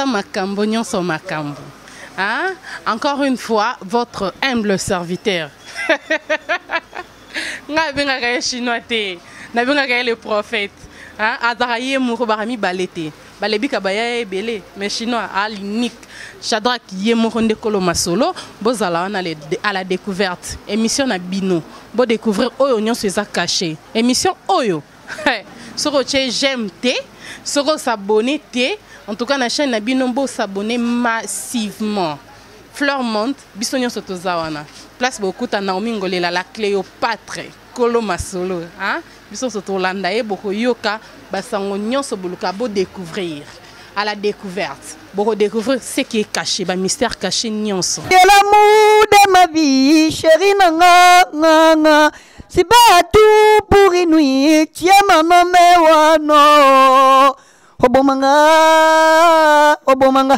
makambo nyonso makambo hein? encore une fois votre humble serviteur nga abengaka ye chinois te nabengaka ye le prophète hein? azaka ye moko baka mibale te Balebika baya ebele mais chinois a l'unique Shadrack ye moko nde kolo masolo bozala wana à la découverte émission na bino bo découvrir oyo nyonso eza caché émission oyo soki otie j'aime te soki osabone te en tout cas na chaîne na bino bo s'abonner massivement fleur monde biso nyonso toza wana place bokuta naomi ngolela la cléopatre kolo masolo hein? biso nso tolanda ye bokoyoka basango nyonso boluka bo découvrir à la découverte boko découvrir ce qui est caché ba mystère caché nyonso de l'amour de ma vie chérie na nga nga nga si ba tout pour une nuit tu es mon homme wano obomanga obomanga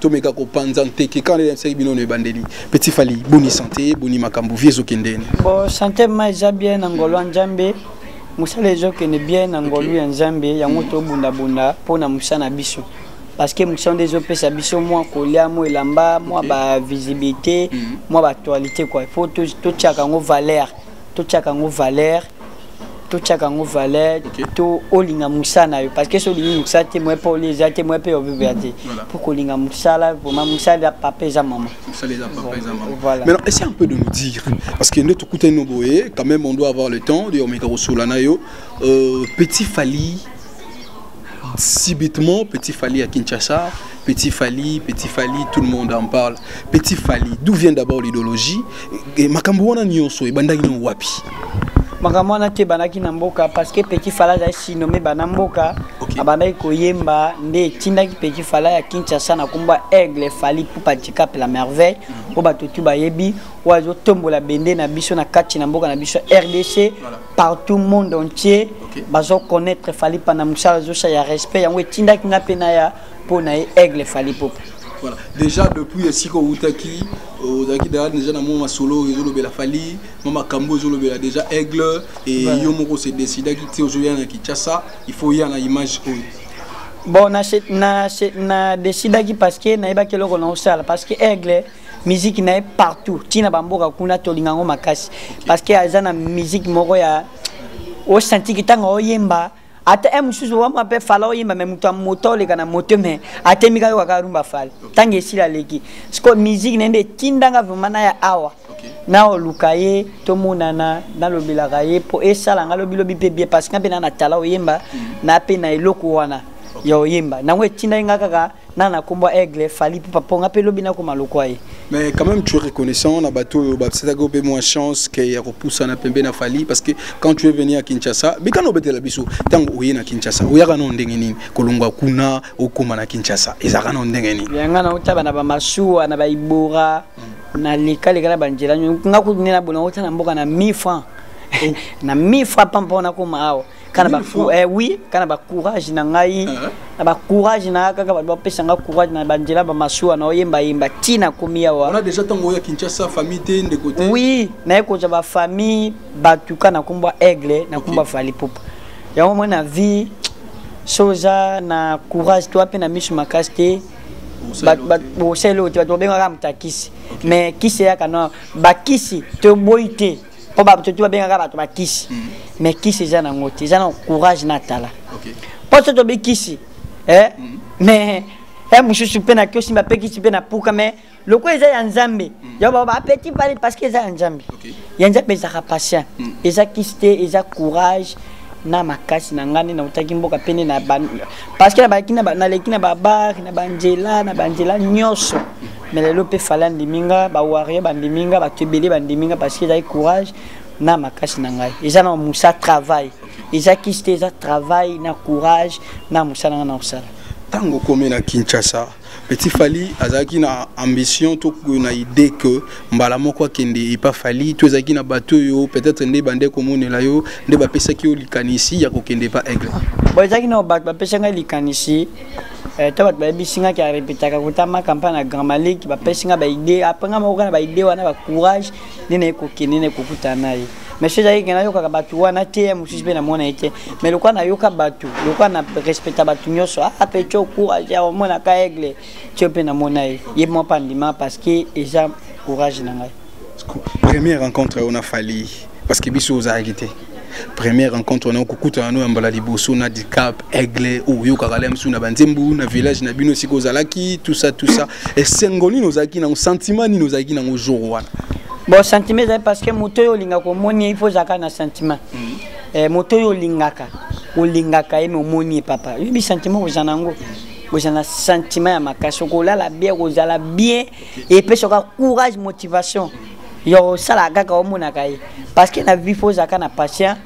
tomeka kopanza nteke kaka nayebisaki bino na ebandeli petit fali boni sante boni makambo vie ezokende ene bo sante ma eza bien na ngolo ya nzambe mosala ezokende bien na ngolu ya nzambe yango tobundabunda mpo na mosala na biso parce que mosala nde ezopesa biso mwa kolia mwa elamba mwa bavisibilité mwa mhm. baactualité kua il faut totiaka yango valeur totiaka yango valeur totyaka yango valeur to olinga mosala na yo parce que soki olingi mosala te moye mpe olia eza te moye mpe obebea te mpo kolinga mosala vraimen mosala eza papa eza mama voilà maintenant essaye un peu de nous dire parce que nde tokutani no boye quand même on doit avoir le temps de omeka kosola na yo euh, petit fali subitement petit Fali à Kinshasa, petit Fali, petit Fali, tout le monde en parle. Petit Fali, d'où vient d'abord l'idéologie Et makambo wana nyoso et bandaki no wapi makambo wana te ebandaki na mboka parce que petit fala azali sinome bana mboka okay. abandaki koyemba nde etindaki petit fala ya kinshasa na nkombo ya aigle fali pupa dicap la merveille oyo bato tu bayebi oyo azotombola bende na biso na kati na mboka na biso rdc voilà. partout monde entier okay. bazo connaître fali pana musala zosa ya respect yango etindaki nga mpe na ya mpo na ye aigle fali popa voilà. déjà depuis esika outaki euh, ozalaki daya déjà na mwa masolo ezolobela fali mwa makambo ezolobela déjà aigle e yo moko se décidaki ti ozoya na kinshasa il faut ya na image oyo bon na, na, na décidaki parce que nayebaki eloko na osala parce que aigle miziki na ye partout ntina bamboka kuna tolinga yango makasi parce que aza na miziki moko ya osantiki ntango oyemba ata e mosusu wama mpe fala oyemba me moto ya moto oleka na moto me atemi kaka kaka rumba fala ntango esila aleki siko miziki na ye nde etindanga vraimen na ya awa naoluka ye tomonana nalobelaka ye mpo esala nga lobilobi mpe bie parce que nga mpe na na tala oyemba mm. na mpe na eloko wana ya oyemba nango etindaki nga kaka na na kombo aigle fali ipupa mpo nga mpe lobi nakoma lokwa ye mais quand même tu es reconnaissant na bato oyo bapesetaki mpe mwa chance ke ya kopusana pembe na fali parce que quand tu es venu à kinshasa mikana obetela biso ntango oye na kinshasa oyaka nao ndenge nini kolongwa kuna okoma na kinshasa ezalaka nao ndenge nini yanga naotaba na bamasuwa na baibora hmm. nalekaleka na banjela nga kutu nde na bolongo ta na mboka na 1000 francs oh. na 1000 francs pampo nakoma awa kana ba eh oui kana ba courage na ngai uh-huh. na ba courage na kaka ba ba pesa nga courage na ba njela ba masua na oyemba yemba tina komi ya wa on a déjà tango ya Kinshasa famille te nde côté oui na ko ja ba famille ba tuka na kumba aigle na kumba fali pop ya moi na vie soza na courage toi pe na misu makasi te bosele oyo te bato babengaka motakisi mais kisi eyaka no bakisi toboyi te mpo bato tu babengaka bato bakisi mm. mais kisi eza nango te eza na courage na tala mpo so tobi kisi eh? mm. mais eh, mosusu mpe na kiosimba mpe kisi mpe na puka mais lokola eza ya nzambe mm. yango baba apeti pale parce que eza ya nzambe ya nzambe ezalaka patient eza kisi te eza courage na makasi na ngai nde nautaki mboka pene na parce que naleki na babare na banzela na banzela nyonso mais lelo mpe fale andimi nga bawario bandimi nga bato ebele bandimi nga parce que ezali courage na makasi na ngai eza na mosa travail eza kisi te eza travail na courage na mosala ngai na kosala ntango okomi na kinshasa petit fali azalaki na ambition to na idée que mbala moko akende epa fali to ezalaki na bato oyo peut-être nde bande komonela yo nde bapesaki yo likanisi ya kokende epa aigle bon ezalaki na bato bapesaki ngai likanisi Eh, to bato bayebisi nga ke arepetaka kotama campagne na grand malik bapesi nga baide apres nga moko kaka na baide wana bacourage nde naye kokende naye kokutana na ye mais soki ezalaki ke nayokaka bato wana te ya mosusu mpe namona ye te mais lokola nayoka bato lokola na respecta bato nyonso ape ah, tio courage ya omonaka aigle tio mpe namona ye ye moko mpe andima parce que eza courage na ngai Première rencontre on a fallu parce que biso aux agité. Première rencontre on a kukuta no mbala liboso na dicap aigle ou yo kakala msu na banzembu na village na bino siko zalaki tout ça tout ça et sengoni nos aki na sentiment ni nos aki na jour wana. Bon sentiment parce que moto yo linga ko moni il faut zaka na sentiment. Mm. Eh, moto yo lingaka olingaka ye me omoni ye papa oyebi sentiment kozala na yango kozala na sentiment ya makasi okolala bien kozala bien epesa ka courage motivation ya kosala kaka omonaka ye parce que na vie fo ozalaka na patient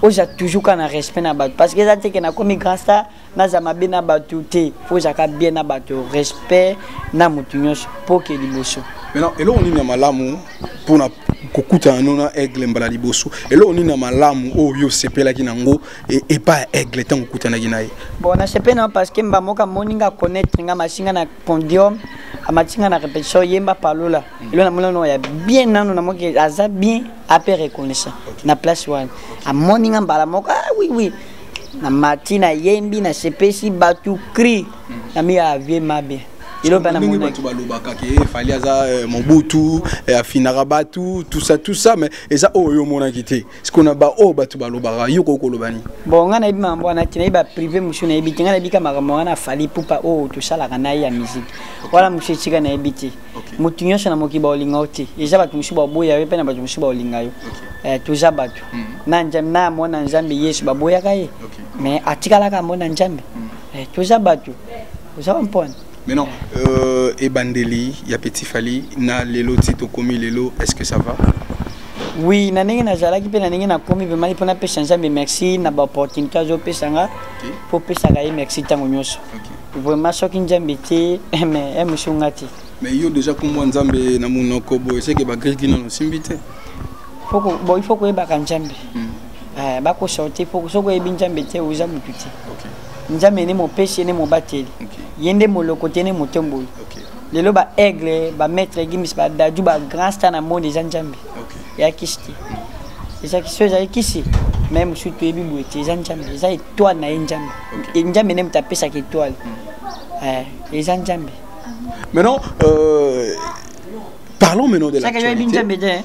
oza toujours ka na respect na bato parce que eza te ke nakomi grand star naza mabe na bato te fo ozalaka bien na bato respect na motu nyonso mpo ke liboso maintenant eloko nini ya malamu mpona kokutana no na aigle mbala liboso eloko nini ya malamu oyo yo osepelaki na yango e, epai ya aigle ntango okutanaki na ye bon nasepeli na yo parce que mbamoka moni nga connaître nga masinga na condium amati nga na répétition yemba palola mm. elo namoni nano ya bien nano namoki aza bien ape reconnaissant na place wana amoni nga mbala moko ah oui oui na mati na yembi na sepesi bato cri mm. na miya avie mabe ndenge bato balobaka ke efali aza eh, mobutu eh, afinaka bato tout ça tout ça mais eza oyo omonaki te siko na baoyo oh, bato balobaka yo koki koloba nini bon ngai nayebi makambo wana te nayebi baprive mosusu nayebi te ngai nayebi ka makambo wana afali pupa oyo oh, tosalaka na ye ya miziki wana mosusu etika nayebi te moto nyonso na mokili baolinga yo te eza bato mosusu baboya yo mpe na bato mosusu baolinga yo eh, toza bato hmm. na mwana nzambe yesu baboyaka ye mais atikalaka mwana nzambe hmm. eh, toza bato oza bampona Mais non, euh, Ebandeli, il y a Petit Fali, na Lelo Tito Komi Lelo, est-ce que ça va Oui, na ndenge nazalaki mpe na ndenge nakomi mpe mali mpo napesa nzambe merci na baopportunité azopesa nga mpo opesaka ye merci ntango nyonso vraiment soki nzambe te mais emusu nga te mais yo déjà kombo nzambe na monoko boye seke bagriki nano osimbi te il faut koyebaka nzambe hmm. Eh, bakosa te po soki oyebi nzambe te oza motu te nzambe nde mopesi ye nde mobateli ye nde moloko te nde motomboli lelo baaigle bamaître gimis badadu bagrand star na monde eza nzambe ya kisi te eza kisi oyo ezali kisi mai mosusu toyebi boye te eza nzambe eza etoile na ye nzambe e, nzambe nde moto apesaka etoile mm. eh, eza nzambe maintenant euh, parlons maintenant de l'actualité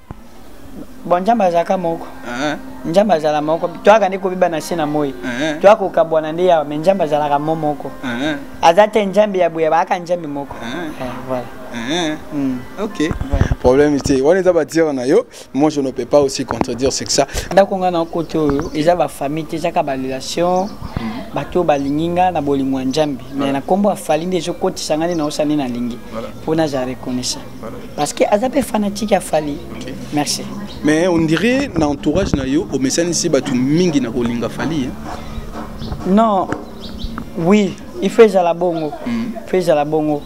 bon nzambe azalaka moko eh. nzambe azala moko toyaka nde kobiba na se na moi eh. toya kokabwana nde yawa me nzambe azalaka mo moko eh. aza te nzambe ya boye bayaka nzambe moko voilà hmm. ok problème te wana eza batire na yo moi je ne peux pas aussi contredire c'est que ça ndako ngai na kote oyo eza bafamille te ezaka barelation hmm. bato oyo balingi ngai na bolingo ya nzambe me na nkombo afali nde ezokotisa ngai nde naosani nalingi mpo nazala reconnaissant parce que aza mpe fanatique ya fali okay. merci mais on dirait na entourage na yo omesanisi bato mingi na kolinga fali non oui il faut ezala bongo mm. faut ezala bongo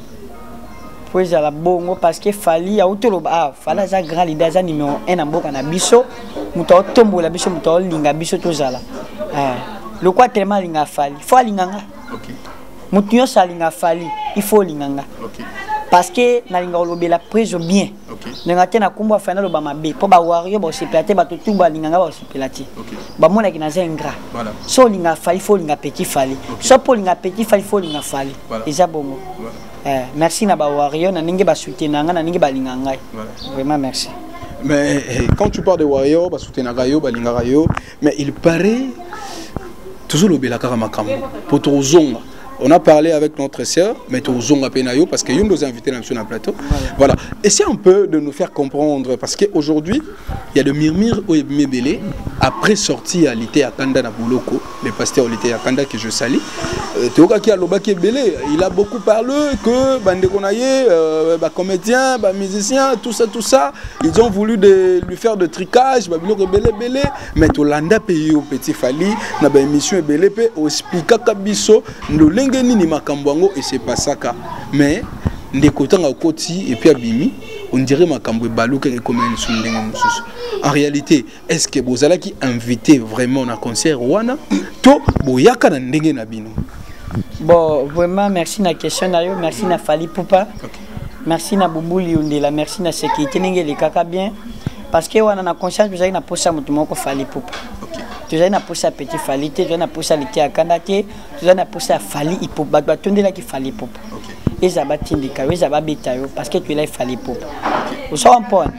faut ezala bongo parce que fali auti oloba ah fali aza grand leader aza numéro 1 na mboka na biso moto aotombola biso moto aolinga biso tozala eh. lokola telema alinga fali fo alinga nga okay. moto nyonso alinga fali il faut olinga nga okay. parce que nalinga kolobela preso bien okay. ndenge te na nkombo ya fali naloba mabe mpo bawario baosepela te bato tu balinga nga baosepela te okay. bamonaki naza ingrat voilà. so olinga fali fo olinga petit fali okay. so mpo olinga petit fali fo olinga fali voilà. eza bongo voilà. eh, merci na bawario na ndenge basutena nga na ndenge balinga ngai voilà. vraiment merci mais eh, quand tu parles de warrior basoutenaka yo balingaka yo mais il paraît tozolobela kaka makambo mpo tokozonga on a parlé avec notre sœur mais tozonga mpe na yo parce que yo nde oza invité na biso na plateau voilà essaie un peu de nous faire comprendre parce que aujourd'hui il y a de murmure oyo ebimi ebele après sortie ya lite ya kanda na boloko le pasteur lite ya kanda que je sali euh, toyokaki alobaki ebele il a beaucoup parlé que bandeko na ye euh, bacomédien bamusicien tout ça tout ça Ils ont voulu de lui faire de tricage, babiloko belé belé, mais to landa pays au petit Fali, na ba émission belé pe o expliquer kabiso ndolenge nini makambo yango et c'est pas ça ka. Mais ndeko tanga koti et puis abimi on dirait makambo ebaluka ekomela lisusu ndenge mosusu en réalité est-ce que bozalaki invité vraiment na concert wana to boyaka na ndenge na bino bon vraiment merci na question na yo merci na fali pupa okay. merci na bubuli yondela merci na sécurité ndenge elekaka bien parce que wana na conscience tozalaki na posa moto moko fali pupa okay. tozali na posa ya petit fali te tozali na posa ya lite ya kanda te tozali na posa ya fali ipupa bato batondelaki fali pupa okay. eza batindika yo eza babeta yo parce que toyelaki fali pupa okay. osawa mpona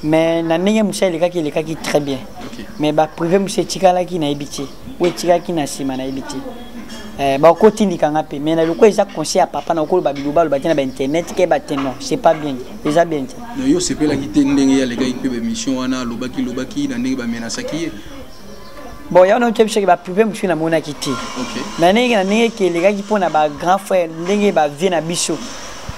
mais na ndenge mosala elekaki elekaki très bien mais baprive mosusu etikalaki nayebi te oyo etikalaki na nsima nayebi te eh, bakotindika nga mpe mais na lokola eza conseil ya papa na okoloba biloba aloba te na bainternet ke bate non c'est pas bien eza bien te yo osepelaki te ndenge ye alekaki mpe baémission wana alobaki lobaki na ndenge bamenasaki ye bon yango na otyebisa ke baprive mosusu namonaki te na ndenge na ndenge ke elekaki mpo na bagrand frère ndenge bavie na biso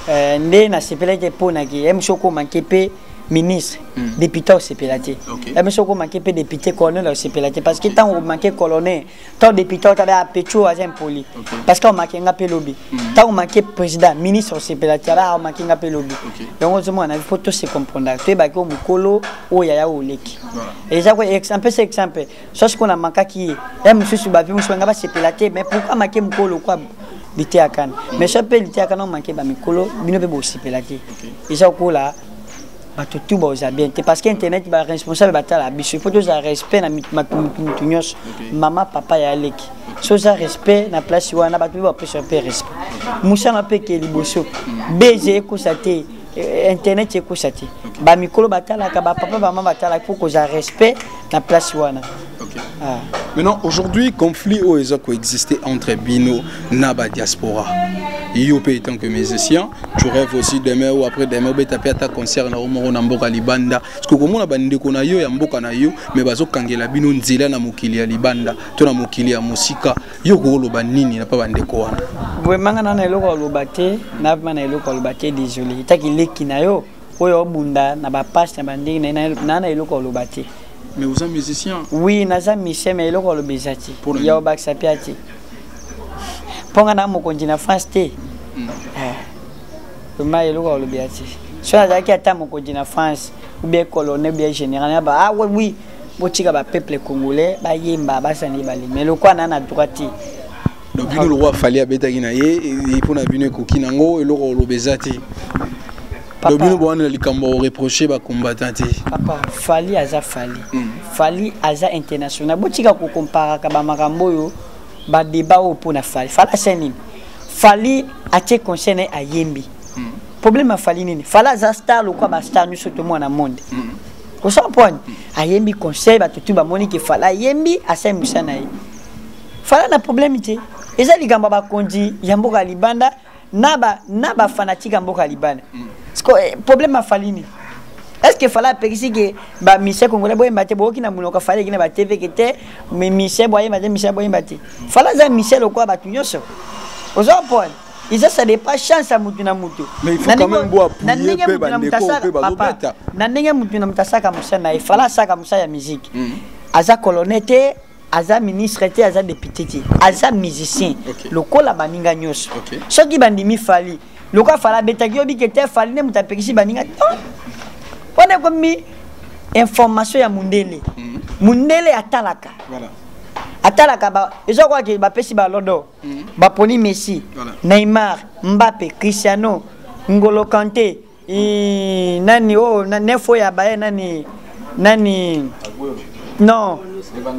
euh, nde nasepelaki mpo na ke ye mosusu okoma nke mpe ministre mm. député osepela te okay. ebe soki omanke mpe député colonel osepela te parce que ntango omanke colonel ntango député otabe apecho aza impoli okay. parce que omake nga mpe lobi ntango mm. omake président ministre osepela te aba omake nga mpe lobi yango okay. ozomona na mpo tose comprendre toyebaki oyo mokolo oyo yaya oleki voilà. eza ko exemple c'est exemple sosi kuna makaki ye ya mosusu bavi mosusu banga basepela te mais pourquoi make mokolo kwa biteyakana mais so mpe liteyakana omake bamikolo bino mpe bosepela te eza kokola bato tu baoza bien te parce que internet baresponsable batala biso mpo tozala respect na mutu nyonso mama papa ya aleki so oza respect na place wana bato mpe bapesa mpe respect mosana mpe ke liboso beze ekosa te Eh, internet ekosa te bamikolo batalaka bapapa bama batalaka mpo kozala respect na place wana okay. ah. maintenant aujourd'hui conflit oyo eza koexiste entre bino na badiaspora yo mpe etant que musicien tu rêve aussi demain ou après demain obeta mpe ata concert na yo moko na mboka libanda parceke okomona bandeko na yo ya mboka na yo me bazokangela bino nzela na mokili ya libanda to na mokili ya mosika yo okoloba nini na pa bandeko wana vraimen nga nana eloko aloba te navma na eloko aloba te désolé etaki leki na yo oyo obunda na bapashe na bandenge na na eloko aloba te mais oza musicien oui naza musicien mais eloko aloba eza te ya obakisa mpe ate mpo nga na mokonzi na france te hmm. eh, vraimen eloko alobi ya te soki nazalaki ata mokonzi na france ou bien colonel ou bien général ah oui botika ba peuple congolais bayemba basana ye balemi mais lokola na na droit te donc bino lokola fali abetaki na ye mpo na bino ekoki nango eloko oloba eza te donc bino bowana na likambo ya koreproche bacombattant te papa fali aza fali hmm. fali aza international botika kokomparaka bamakambo oyo badeba oyo mpo na fali fali asya nini fali atie conseil na ye ayembi hmm. problème ya fali nini fali aza star lokola bastar nyonso to mwana monde hmm. osampwani ayembi conseil bato tu bamoni ke fala ayembi asali mosala na ye fala na problème te eza likambo ya bakonzi ya mboka ya libanda na ba na ba fanatique ya mboka ya libanda mm. siko eh, problème ya fali nini est ce que fala apekisi ke bamise congolais boyemba te boyoki na monoko fala eki na batv ke te mise boyemba te mise boyemba te fala aza mise lokola bato nyonso oza pone eza ça dépend chance ya motu na motu na ndenge motu na motu asaka papa na ndenge motu na motu asaka mosala na ye fala asaka mosala ya miziki mm. aza colonne te aza ministre te aza député te aza musicien lokola baninga nyonso soki bandimi fali lokola fala abetaki yo bike te fali nde moto apekisi baninga non wana ekomi information ya mundele mm. mundele atalaka atalaka ezokoki bapesi balodo mm. baponi messi voilà. neymar mbappe cristiano ngolo kante i, nani oyo oh, na, nefo ya baye nani nani non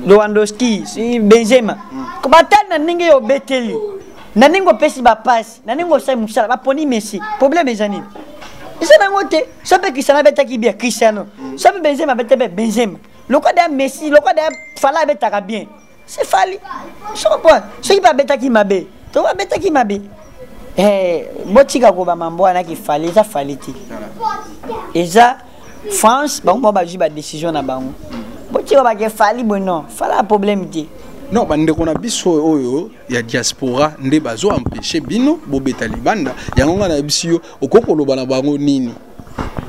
lewandowski benzema mm. batali na ndenge yo obeteli na ndenge opesi bapasi na ndenge osali mosala baponi messi problème eza nini eza nango te so mpe cristiano abetaki bia cristiano so mpe benzema abeta mpe benzema lokola deya messi lokola deya fala abetaka bien c'est fali soko soki babetaki mabe to babetaki mabe eh, botika koba mambo wana ki fali eza fali te eza france bango moko bazwi badécision na bango botika bake fali boye non fala problème te non bandeko na biso oyo ya diaspora nde bazo empêche bino bobeta libanda yango ngai nayebisi yo okoki koloba na bango nini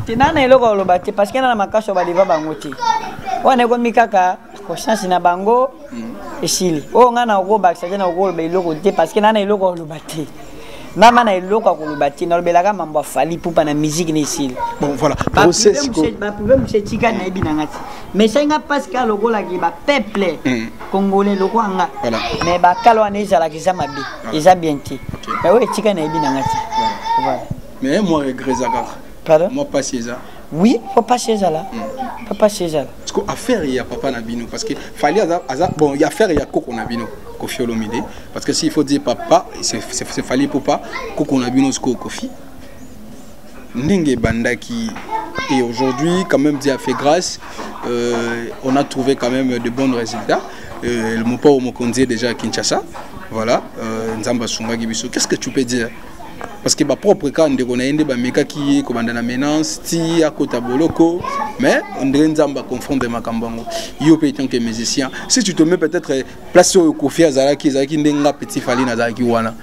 te naa na eloko oloba te parce que na na makasi badeva bango te wana ekomi kaka conscience na bango mm. esili oyo oh, ngai nakobakisa te nakoloba eloko te parce que naa na eloko oloba te mama na eloko ya koloba te nalobelaka mambo ya fali pupa na miziki na esili baprouve mosu etika nayebi na nga te mais sai nga mpasi kaka lokolaki bapeuple mm. congolais lokola nga mais bakala wana ezalaka eza mabe eza bien te mais oyo etika nayebi na nga te voilà mais moi regret eza kaka pardon moi pasi eza oui faut pas chez là mm. faut pas chez là parce que affaire il y a papa na bino parce que fali aza aza bon il y a affaire il y a koko na bino kofi olomide parce que s'il faut dire papa c'est c'est fali popa koko na bino siko kofi ndenge ebandaki et aujourd'hui quand même Dieu a fait grâce euh, on a trouvé quand même de bons résultats euh, le mopao mokonzi est déjà à Kinshasa voilà euh, nzamba sungaki biso qu'est-ce que tu peux dire parce que ba propre cas ndeko na ye nde bamekaki ye kobanda na menace ti akota boloko mais ondire nzambe aconfondre makambo yango yo mpe tant que musicien si tu te mets peut-être place oyo kofi azalaki ezalaki nde nga petit fali nazalaki wana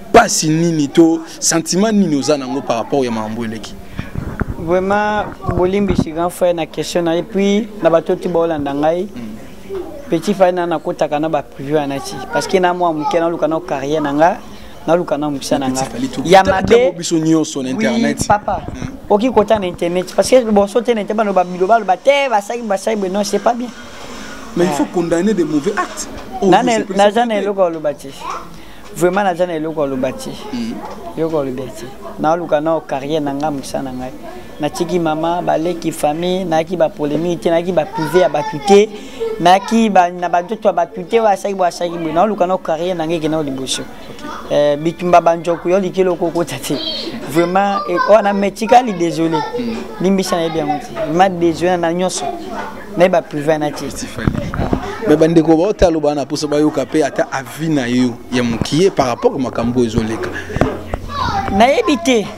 mpasi nini to sentiment nini oza nango par rapport ya makambo eleki vraiment bolimbisi grand frère na question na ye puis na bato ti baolanda ngai mm. petit fali na nakotaka na baprive wana ti parce que na mwa moke naluka na carrière na ngai naluka na mokisa na nga ya mabe biso nyonso na internet oui, papa hmm. oki kota na internet parce que boso te na internet baloba biloba loba te basaki basaki boye non c'est pas bien mais il faut ah. condamner des mauvais actes oh, naza na eloko ya loba te vraiment naza na eloko ya loba te hmm. eloko ya loba te naoluka nao carrière na ngai mokisa na ngai natiki mama baleki famille nayaki bapolemiki te nayaki baprive ya bato te nayaki na banzoto ya bato te oyo asaki boye asaki boye naoluka nao carrière na ngai ekenda o liboso eh, bitumba banjoku yo likeli okokota te vraiment eh, wana me tikali désolé hmm. limbisa nayebi yango te ma désolé na nyonso nayebi baprive na te me bandeko baota aloba wana mposo bayoka mpe ata avi na yo ya mokie par rapport makambo oyo ezoleka nayebi te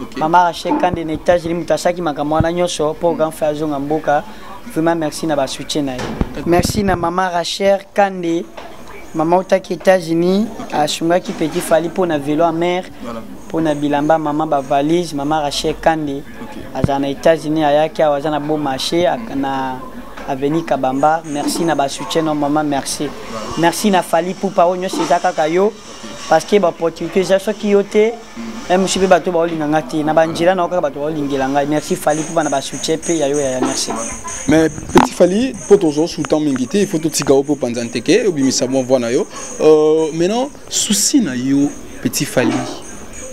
okay. mama rachel kande na étage limutu asaki makambo wana nyonso mpo mm. ganfe azonga mboka vraiment merci na basoutien na ye merci na mama rachel kande mama otaki états-unis asungaki petit fali mpo na velo amare mpo na bilamba mama bavalise mama rachel kande azala na états-unis ayaki awa aza na beau marché na avenue kabamba merci na basoutien no mama merci merci na fali pupa oyo nyonso eza kaka yo parce que baopportunité eza soki yo te mcp bato baolinga nga te na banjela na yo kaka bato baolingela ngai merci fali mpo bana basoutien mpe ya yo yaya merci mais petit fali mpo tozwa soutan mingi te ifo totika yo mpo opanza nteke obimisa mwa voi na yo euh, maintenant souci na yo petit fali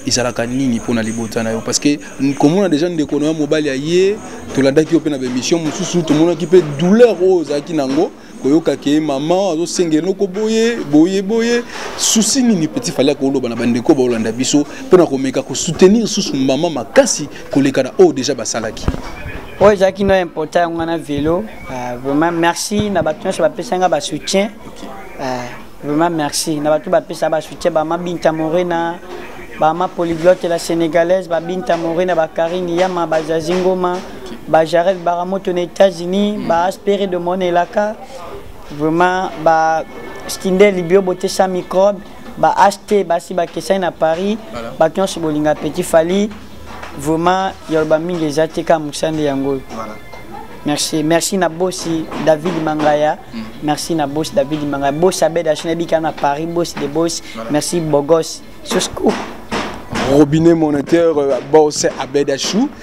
ezalaka nini mpo na libota na yo parce que komona déjà ndeko na yo mobali aye tolandaki yo mpe na baémission mosusu tomonaki mpe douleur oyo ozalaki na yango koyoka ke maman azosenga eloko boye boye boye susi nini petit fali akoloba na bandeko baolanda biso mpo na komeka kosoutenir susu mama makasi koleka na oyo deja basalaki oyo ezalaki no impota yango wana velo ah, vraiment merci na bato nyonso bapesa nga basoutien ah, vraiment merci na bato bapesa basoutien bama binta morena bama polyglotte la sénégalaise babinta morena bakarine yama bazazi ngoma ba Jarel Baramoto na États-Unis mm. ba Aspéré de mon elaka vraiment ba Stindel Libio bote sans microbe ba acheter basi ba kesai na Paris voilà. ba nyonso bolinga petit Fally vraiment yoloba mingi eza te ka mosande yango oyo voilà. merci merci na bosi david mangaya mm. merci na bosi david mangaya bosi abed ashinabika na paris bosi de bosi voilà. merci bogos soscoop robinet moniteur euh, boss abed achou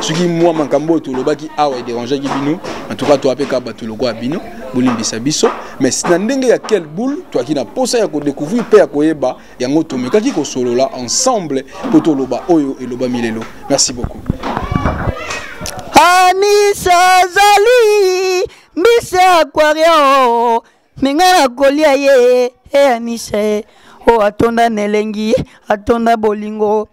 soki mwa makambo oyo tolobaki awa ederangeaki bino en tout cas toa mpe kaka bato lokola bino bolimbisa biso mais na ndenge ya quel boule toaki na mposa ya kodécouvrir mpe ya koyeba yango tomekaki kosolola ensemble mpo toloba oyo elobami lelo merci beaucoup anisa azali mbisi ya aquario me ngai nakolia ye e anisa ye oyo atonda na elengi atonda bolingo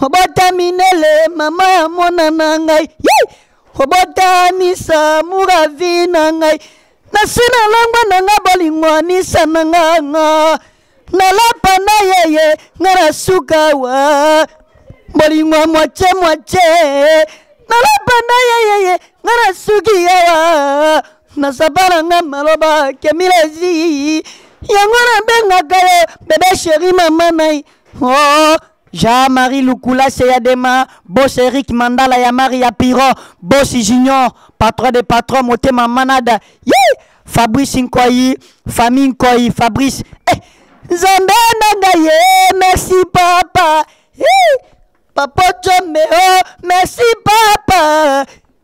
obotaminele mama ya mwana na ngai ye obotanisa muravi na ngai nasi na langwa na ngai bolingo anisa na nganga nalapa na yeye nga na suka wa bolingo mwatye mwatye nalapa na yeyeye nga na suki yawa nasapa na nga maloba kemilezi yango nabengaka yo bebe sheri mama nai oh. Jean Marie Lukula Seyadema, Boss Eric Mandala ya Maria Piro, Boss Junior, patron de patron motema manada. Yee! Fabrice Nkoyi, famille Nkoyi, Fabrice. Eh, Nzambe na ngai ye, merci papa. Yee! Papa Chomeo, merci papa.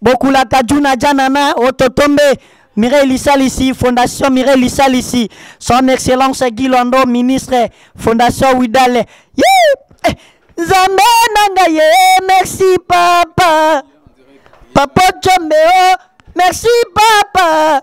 bokulaka juna janana ototombe Mireille Lisalisi, Fondation Mireille Lisalisi, son excellence Guy Lando, ministre, Fondation Widale. Yeah! Eh, Nzambe nanga ye, merci papa. Papa Chombe, oh, merci papa.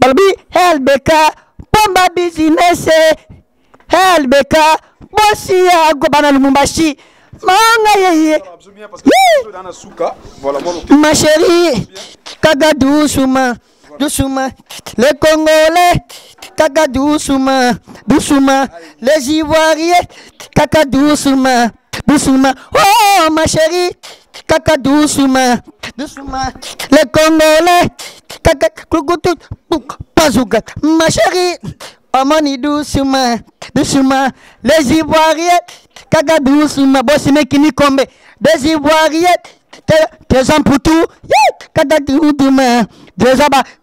balobi lbk pomba bizinese lbk bosi ya gobana lumumbashi manga yeye ma chérie kaka doucement doucement les congolais kaka doucement doucement les ivoiriens kaka doucement doucement oh ma chérie kaka doucement doucement le congolais kaka kukutu pazuka ma chérie omoni doucement doucement les ivoiriens kaka doucement bosimeki nikombe des ivoiriens te- tezan putu ye, kaka doucement teza ba